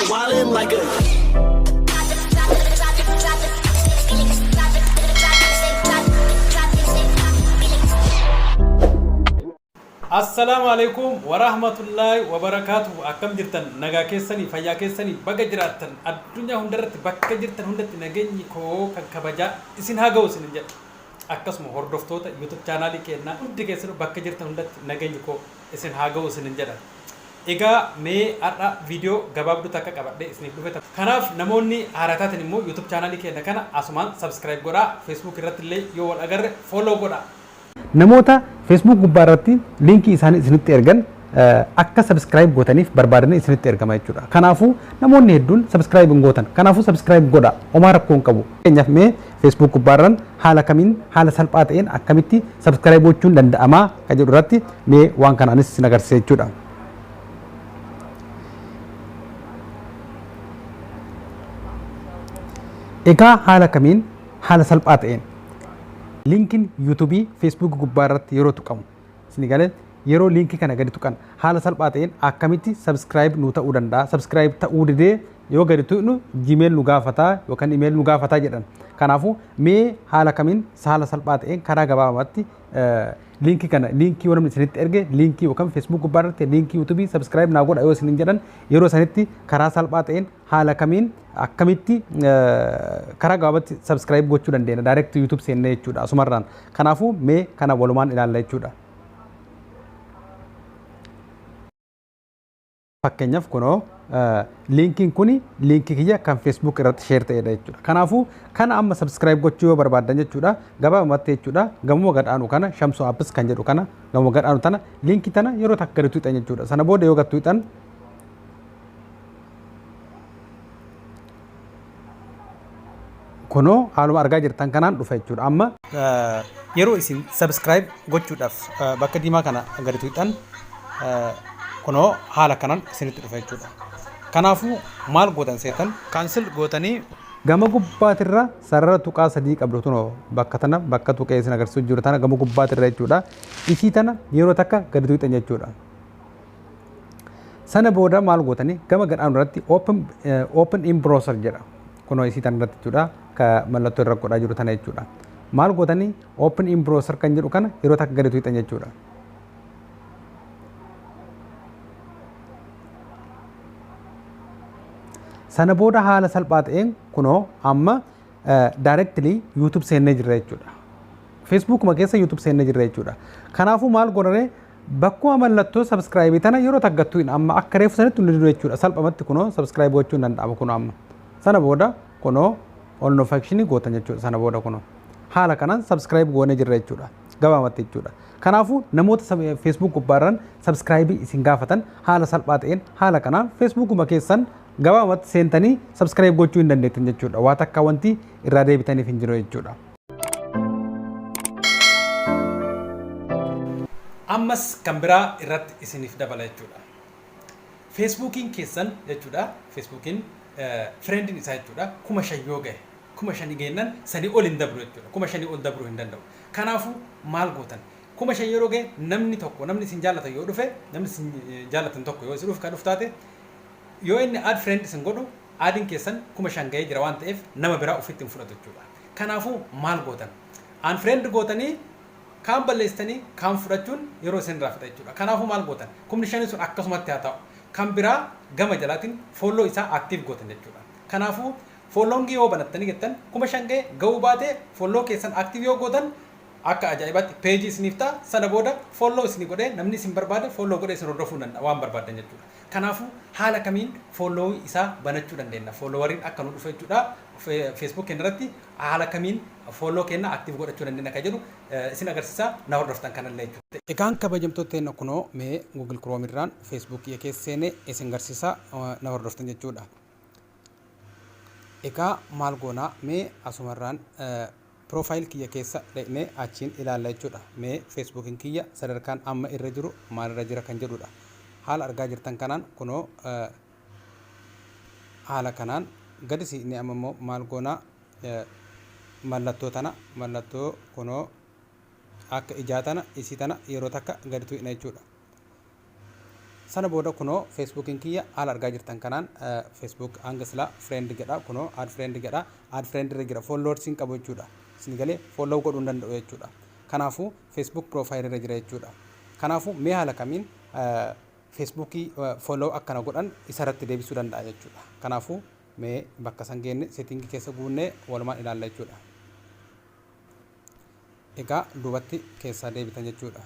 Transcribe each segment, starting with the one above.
Wildin' like a. Assalaamu alaikum warahmatullaahi wabarakaatuhu akkam jirtan nagaa keessanii fayyaa keessanii baga jiraattan addunyaa hundarratti bakka jirtan hundatti nageenyi koo kan kabajaa isin haa ga'u isin jedha akkasuma hordoftoota youtube chaanaalii keennaa hundi keessanuu bakka jirtan hundatti nageenyi koo isin haa ga'u isinin jedha. Egaa mee har'a video gabaabduu takka qabadhee isiniif dhufe. Kanaaf namoonni haaraa taatan immoo youtube channel keenna kana asumaan subscribe godhaa. Facebook irratti illee yoo wal agarre follow godhaa. Namoota Facebook gubbaa irratti link isaanii isinitti ergan akka subscribe gootaniif barbaadanii isinitti ergama jechuudha. Kanaafuu namoonni hedduun subscribe hin gootan. Kanaafuu subscribe godhaa. Homaa rakkoo hin qabu. Fakkeenyaaf mee Facebook gubbaarran haala kamiin haala salphaa ta'een akkamitti subscribe gochuun danda'amaa kan jedhu irratti mee waan kana anis isin agarsiisa jechuudha. Egaa haala kamiin haala salphaa ta'een linkin yuutuubii Facebook gubbaa irratti yeroo tuqamu Isinii galee? Yeroo link kana gadi tuqan haala salphaa ta'een akkamitti subscribe nuu ta'uu danda'a? Subscribe ta'uu didee yoo gadi tuqnu gmail nu gaafata yookaan email nu gaafata jedhan. Kanaafuu mee haala kamiin haala salphaa ta'een karaa gabaabamatti liinkii kana liinkii yoo namni isinitti erge liinkii yookaan facebook gubbaa irratti liinkii youtube subscribe naa godha yoo isinin jedhan yeroo isanitti karaa salphaa ta'een haala kamiin akkamitti karaa gabaabatti subscribe gochuu dandeenya direct youtube seennee jechuudha asumarraan kanaafuu mee kana walumaan ilaalla jechuudha fakkeenyaaf kunoo liinkiin kuni liinkii kiyya kan facebook irratti share ta'edha jechuudha kanaafuu kana amma subscribe gochuu yoo barbaadan jechuudha gabaabumatti jechuudha gamuma gadhaanu kana shamsoo apps kan jedhu kana gamuma gadhaanu tana liinkii tana yeroo takka gadi tuuxan jechuudha sana booda yoo gad tuuxan Kunoo haaluma argaa jirtan kanaan dhufa jechuudha. Amma yeroo isin subscribe gochuudhaaf bakka diimaa kana gadi tuqxan kunoo haala kanaan isinitti dhufa jechuudha. Kanaafuu maal gootan seetan cancel gootanii gama gubbaatirra sarara tuqaa sadii qabdu tunoo bakka tana bakka tuqee isin agarsiisu jiru tana gama gubbaatirra jechuudha. Isii tana yeroo takka gadi tuqxan jechuudha. Sana booda maal gootanii gama gadhaan irratti open, eh, open in browser jedha. Kunoo isii tan irratti jechuudha ka mallattoo irra godhaa jiru tana jechuudha. Maal gootanii open in browser kan jedhu kana yeroo takka gadi tuqxan jechuudha. Sana booda haala salphaa ta'een kunoo amma directly YouTube seennee jirra jechuudha. Facebookuma keessa YouTube seennee jirra jechuudha. Kanaafuu maal godhane Bakkuma mallattoo subscribe tana yeroo takka tuqin amma akka reefu sanitti nu didu jechuudha salphamatti kunoo subscribe gochuun danda'ama kunoo amma sana booda kunoo all notification gootan jechuudha sana booda kunoo haala kanaan subscribe goonee jirra jechuudha gabaamatti jechuudha kanaafuu namoota facebook gubbaarran subscribe isin gaafatan haala salphaa ta'een haala kanaan facebookuma keessan gabaamatti seentanii subscribe gochuu hin dandeettan jechuudha waa takka wanti irraa deebitaniif hin jiru jechuudha. ammas kan biraa irratti isiniif dabala jechuudha. Feesbuukiin keessan jechuudha. Feesbuukiin fireendiin isaa jechuudha. Kuma shan yoo gahe kuma shanii geennan sanii ol hin dabru jechuudha. Kuma shanii ol dabruu hin danda'u. Kanaafuu maal gootan? Kuma shan yeroo gahe namni tokko namni isin jaallatan yoo dhufe namni isin jaallatan tokko yoo isin dhufe kan dhuftaate Yoo inni add friend isin godhu add'n keessan 5000 gahee jira waan ta'eef nama biraa ofitti hin fudhatu jechuudha. Kanaafuu maal gootan? Unfriend gootanii kaan balleessitanii kaan fudhachuun yeroo isin irraa fixa jechuudha. Kanaafuu maal gootan? Kumni shanii sun akkasumatti haa taa'u. Kan biraa gama jalaatiin follow isaa active gootan jechuudha. Kanaafuu following yoo banattanii jettan 5000 gahe gahuu baate follow keessan active yoo gootan akka ajaa'ibaatti page isiniif ta'a. Sana booda follow isinii godhee namni isin barbaade follow godhee isin hordofuu hin danda'a waan barbaaddan jechuudha. Kanaafuu haala kamiin follow isaa banachuu dandeenna? Followeriin akka nu dhufu jechuudha. Facebook keenya irratti haala kamiin follow keenya active godhachuu dandeenna kan jedhu isin agarsiisa. Na hordoftan kana illee jechuudha. Egaan kabajamtoota teenna kunoo mee Google Chrome irraan Facebook kiyya keessa seenee isin garsiisa. Na hordoftan jechuudha. Egaa maal goona mee asuma irraan Profile kiyya keessa dhaqnee achiin ilaalla jechuudha. Mee Facebook'n kiyya sadarkaan amma irra jiru maalirra jira kan jedhuudha. Haala argaa jirtan kanaan kunoo haala kanaan gadi siqnee amma immoo maal goonaa mallattoo tana mallattoo kunoo akka ijaa tana isii tana yeroo takka gadi tuqna jechuudha. Sana booda kunoo Facebookin kiyya haala argaa jirtan kanaan Facebook hanga silaa friend jedha kunoo add friend jedha add friend irra jira followers hin qabu jechuudha isin galee follow godhuu hin danda'u jechuudha kanaafu Facebook profile irra jira jechuudha kanaafu mee haala kamiin Facebook follow akkana godhan isarratti deebisuu danda'a jechuudha kanaafu mee bakka san geenne setting keessa guunnee walumaan ilaalla jechuudha egaa duubatti keessaa deebitan jechuudha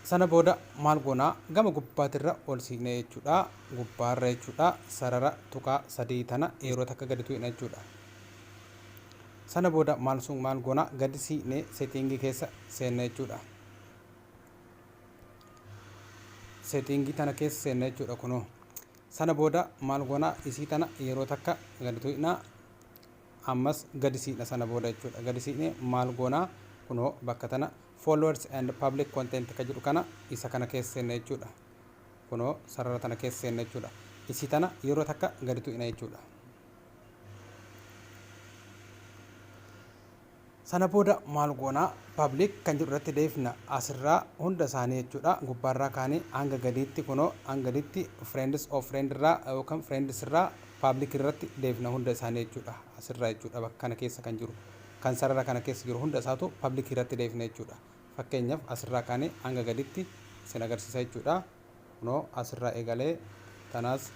sana booda maal goonaa gama gubbaatirra ol siiqna jechuudha gubbaarra jechuudha sarara tuqaa sadii tana yeroo takka gadi tuqna jechuudha sana booda maal sun maal goonaa gadi siiqne seetiingii keessa seenna jechuudha seetiingii tana keessa seenna jechuudha kunoo Sana booda maal goona isii tana yeroo takka gadi tuyna ammas gadi siqna sana booda jechuudha gadi siqne maal goona kunoo bakka tana followers and public content ka jedhu kana isa kana keessa seenna jechuudha kunoo sarara tana keessa seenna jechuudha isii tana yeroo takka gadi tuyna jechuudha. Sana booda maal goona? Public kan jedhu irratti deebifna. As irraa hunda isaanii jechuudha. Gubbaa irraa kaanee hanga gadiitti kunoo hanga gadiitti friends of friend irraa yookaan friends irraa public irratti deebifna hunda isaanii jechuudha. As irraa jechuudha bakka kana keessa kan jiru. Kan sarara kana keessa jiru hunda isaatu public irratti deebifna jechuudha. Fakkeenyaaf as irraa kaanee hanga gadiitti isin agarsiisa jechuudha. Kunoo as irraa eegalee tanaas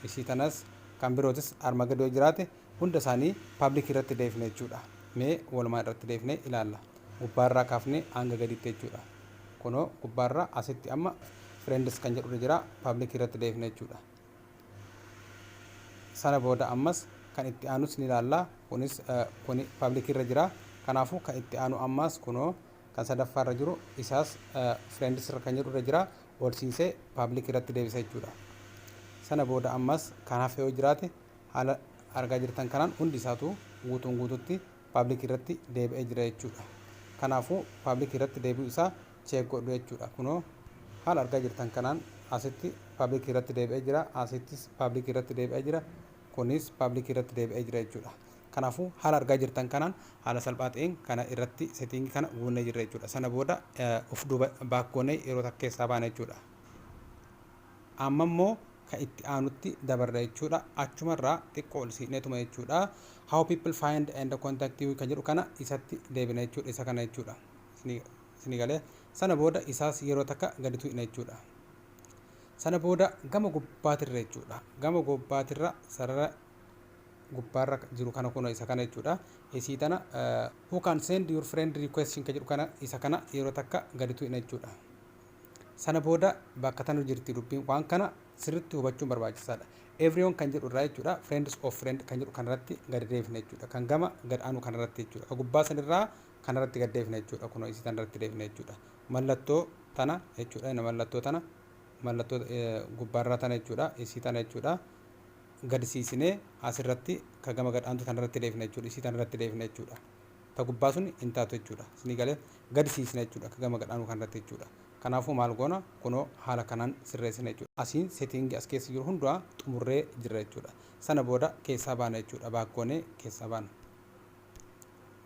isii tanas kan birootis arma gadi yoo jiraate hunda isaanii public irratti deefna jechuudha. Mee walumaa irratti deefnee ilaalla. Gubbaa irraa kaafnee hanga gadiitti jechuudha. Kunoo gubbaa irraa asitti amma friends kan jedhu irra jira public irratti deefna jechuudha. Sana booda ammas kan itti aanus ni ilaalla. Kunis kuni public irra jira. Kanaafuu kan itti aanu ammaas kunoo kan sadaffaa irra jiru isaas friends irra kan jedhu irra jira ol siinsee public irratti deebisa jechuudha sana booda ammas kan hafe yoo jiraate haala argaa jirtan kanaan hundi isaatu guutuun guututti public irratti deebi'ee jira jechuudha kanaafuu public irratti deebi'u isaa cheek godhu jechuudha kunoo haala argaa jirtan kanaan asitti public irratti deebi'ee jira asittis public irratti deebi'ee jira kunis public irratti deebi'ee jira jechuudha Kanaafuu haala argaa jirtan kanaan haala salphaa ta'een kana irratti setting kana guunnee jirra jechuudha. Sana booda of duuba baak goonee yeroo takka keessaa baana jechuudha. Amma immoo ka itti aanutti dabarra jechuudha. Achumarraa xiqqoo ol siqneetuma jechuudha. How people find and contact you ka jedhu kana isatti deebina jechuudha. Isa kana jechuudha. Isinii galee sana booda isaas yeroo takka gadi tuqna jechuudha. Sana booda gama gubbaatirra jechuudha. Gama gubbaatirra sarara gubbaarra jiru kana kunoo isa kana jechuudha. Isii tana who can send your friend request ka jedhu kana isa kana yeroo takka gadi tuqna jechuudha. Sana booda bakka tanu jirti dubbiin waan kana sirriitti hubachuun barbaachisaadha. Everyone kan jedhu irraa jechuudha friends of friend kan jedhu kanarratti gadi deebifna jechuudha. Kan gama gad aanu kanarratti jechuudha. Kan gubbaa sanirraa kanarratti gad deebifna jechuudha. Kunoo isii tanarratti deebifna jechuudha. Mallattoo tana jechuudha. Mallattoo tana mallattoo gubbaarraa tana jechuudha. Isii tana jechuudha. gadsiisine as irratti ka gama gad aantu tana irratti dheefna jechuudha isii tana irratti dheefna jechuudha ta gubbaa sun hin taatu jechuudha isinii galee gadsiisna jechuudha ka gama gad aanu kan irratti jechuudha kanaafuu maal goona kunoo haala kanaan sirreessina jechuudha asiin setting as keessa jiru hundumaa xumurree jirra jechuudha sana booda keessaa baana jechuudha baak goonee keessaa baana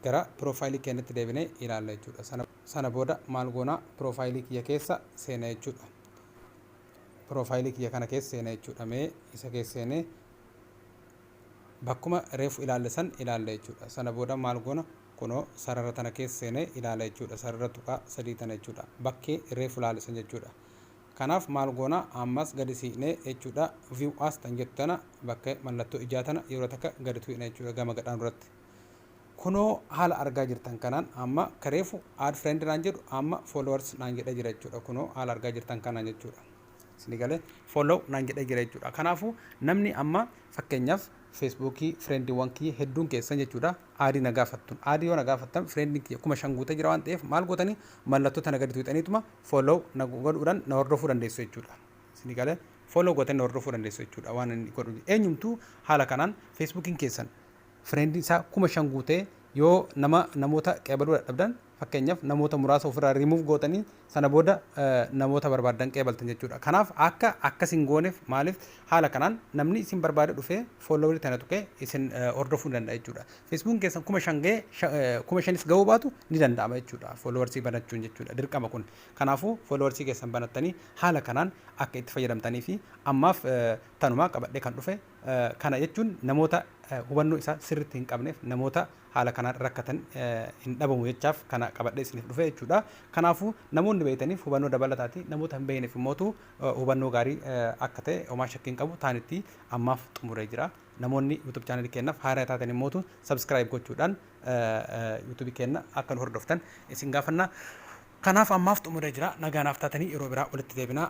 gara piroofaayilii keenyatti deebinee ilaalla jechuudha sana sana booda maal goona piroofaayilii kiyya keessa seena jechuudha profile kiyya kana keessa seena jechuudha mee isa keessa seene bakkuma reefu ilaalle san ilaalla jechuudha sana booda maal goona kunoo sarara tana keessa seene ilaala jechuudha sarara tuqaa sadii tana jechuudha bakkee reefu ilaale san jechuudha kanaaf maal goona ammas gadi siqnee jechuudha view as tan jettu tana bakka mallattoo ijaa tana yeroo takka gadi tuqna jechuudha gama gadhaan irratti Kunoo haala argaa jirtan kanaan amma ka reefu add friend naan jedhu amma followers naan jedha jira jechuudha. Kunoo haala argaa jirtan kanaan jechuudha. Isin galee follow naan jedha jira jechuudha. Kanaafuu namni amma fakkeenyaaf Facebook friendiwwan kiyya hedduun keessan jechuudha aadii na gaafattun. Aadii yoo na gaafattan friendin kiyya kuma shan guutee jira waan ta'eef maal gootanii mallattoo tana gadi tuuxaniituma follow na godhuudhaan na hordofuu dandeessu jechuudha. Isin galee follow gootanii na hordofuu dandeessu jechuudha waan inni godhu. Eenyumtuu haala kanaan Facebookiin keessan friend isaa kuma shan guutee yoo nama namoota qeebaluu dadhabdan fakkeenyaaf namoota muraasa ofirraa remove gootanii sana booda namoota barbaaddan qeebaltan jechuudha kanaaf akka akkas hin gooneef maaliif haala kanaan namni isin barbaade dhufee follower tana tuqee isin hordofuu ni danda'a jechuudha facebook keessan kuma shan ga'ee kuma shanis ga'uu baatu ni danda'ama jechuudha followers banachuun jechuudha dirqama kun kanaafuu followers keessan banattanii haala kanaan akka itti fayyadamtanii fi ammaaf tanumaa qabadhee kan dhufe Kana jechuun namoota hubannoo isaa sirritti hin qabneef, namoota haala kanaan rakkatan hin dhabamu jechaaf kana qabadhee isiniif dhufe jechuudha. Kanaafuu namoonni beektaniif hubannoo dabalataati, namoota hin beekneef immootu hubannoo gaarii akka ta'e homaa shakkii hin qabu. Taanitti ammaaf xumuree jira. Namoonni YouTube channel keenyaaf haaraa taatan immootu subscribe gochuudhaan YouTube keenya akka nu hordoftan isin gaafanna. Kanaaf ammaaf xumuree jira. Nagaa naaf taatanii yeroo biraa walitti deebina.